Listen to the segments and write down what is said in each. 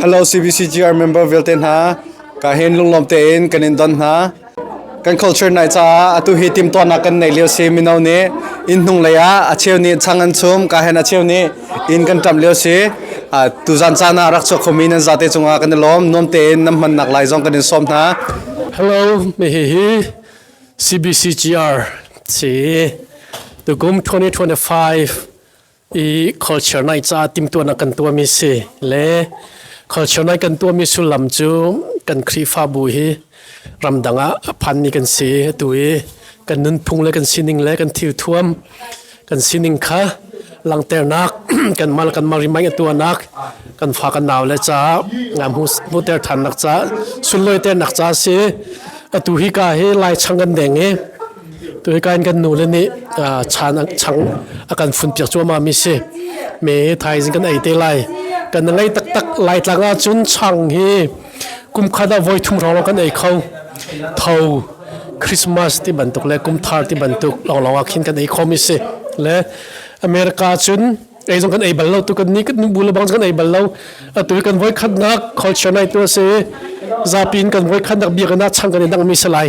Hello CBCGR member vialte hna, ka hin lunglawm tein kan in don hna. Kan culture nai caah atu hi timtuahnak kan nei lio si mino nih inn hnung lei ah a cheu nih chang an chum ka hen a cheu nih inn kan ṭamh lio si tuzan caan ah rak chuak khomi nan zate cungah kan i lawm nuam tein nan hmannak lai zong kan in sawm hna hello me hi hi CBCGR si tukum 2025 i culture nai ca timtuan a kan tuami si le culture nai kan tuami sullam cu kan khrihfabu hi ramdang ah a phanmi kan si atu i kan nunphung le kan sining le kan thil thuam kan sining kha langternak kan mal kan mal rimai atuanak kan fa kan nau le cha ngam hu hu ter than nak cha sunloi ter nak cha si atu hi ka hi lai chang kan deng i Tuhikan kan nu le nih chan chang a kan fun piak cuahmah mi si. Me thaizing kan ei te lai. Kan ngei taktak lai tlang ahcun chang hi kumkhat ah voi thum rawng kan ei kho. Tho Christmas ti bantuk le kumthar ti bantuk lawlaw ah khin kan ei khom si. Le America cun ei zong kan ei bal lo tu kan ni kan bu le bang kan ei bal lo atu kan voi khat nak culture nai tu si zapi in kan voi khat nak bia kana chang kan dang mi se lai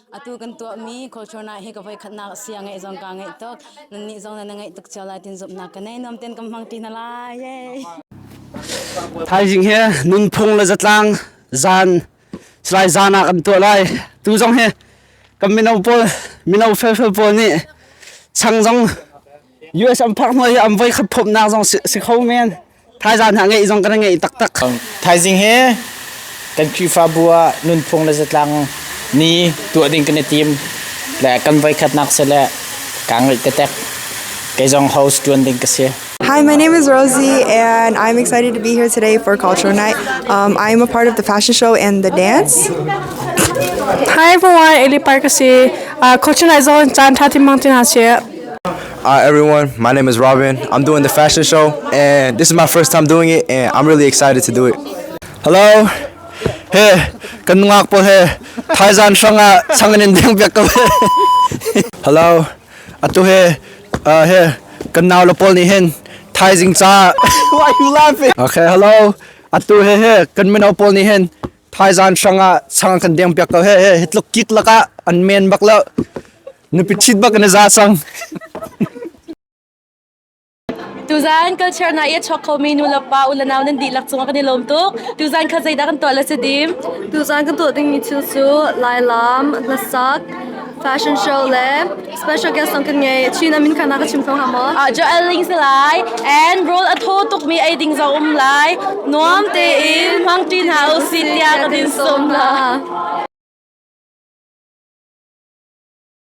Atu kan tuahmi culture na hi ka voi khatnak sia ngeih zong ka ngeih tuk. Nannih zong na ngeih tuk cio lai tin zumhnak ka nei nuam ten kan hmang pi na lai. Thaizing he nunphung le zatlang zan slai zanak am tuah lai. Tu zong he kan mino pawl mino felfel pawl nih chang zong US am phak hnuai am voi khat phomnak zong si kho men. Thaizang hna ngeih zong kan ngeih taktak. Um, thaizing he kan Khrihfabu ah nunphung le zatlang ni tuah ding kan i tim le kan voikhatnak se le ka ngeih tetek kei zong host tuan ding ka si. Hi, my name is Rosie, and I'm excited to be here today for Cultural Night. Um, I'm a part of the fashion show and the dance. Hi, everyone, Eli Parkasi. Uh, Cultural Night zone chan thati mang tina se. Hi everyone, my name is Robin. I'm doing the fashion show, and this is my first time doing it, and I'm really excited to do it. Hello, hey, kan ngak po he, Thailand sanga sanganin ding biak ka Hello, atu he, uh, he, kan naw lapol ni hen, Thai jing cha. Why you laughing? Okay, hello, atu he he, kan minau pol ni hen, Thailand sanga sang kan ding biak ka he he, hitluk kit laka an men bak la. Nupi thit bak na za sang. Tuzan culture na ia chok kho mi nu la pa u la nau nan di lak chung kan i lom tuk. Tuzan kha zeidah kan tuah la se dim. Tuzan kan tuah ding mi thil cu lai lam, hlasak, fashion show le special guest song kan ngei. China min khana ka chim thong ha mo. Ah Joel Ling se lai and role atho tuk mi ai ding zo um lai. Nuam te in mang tin ha u si tia ka din som la.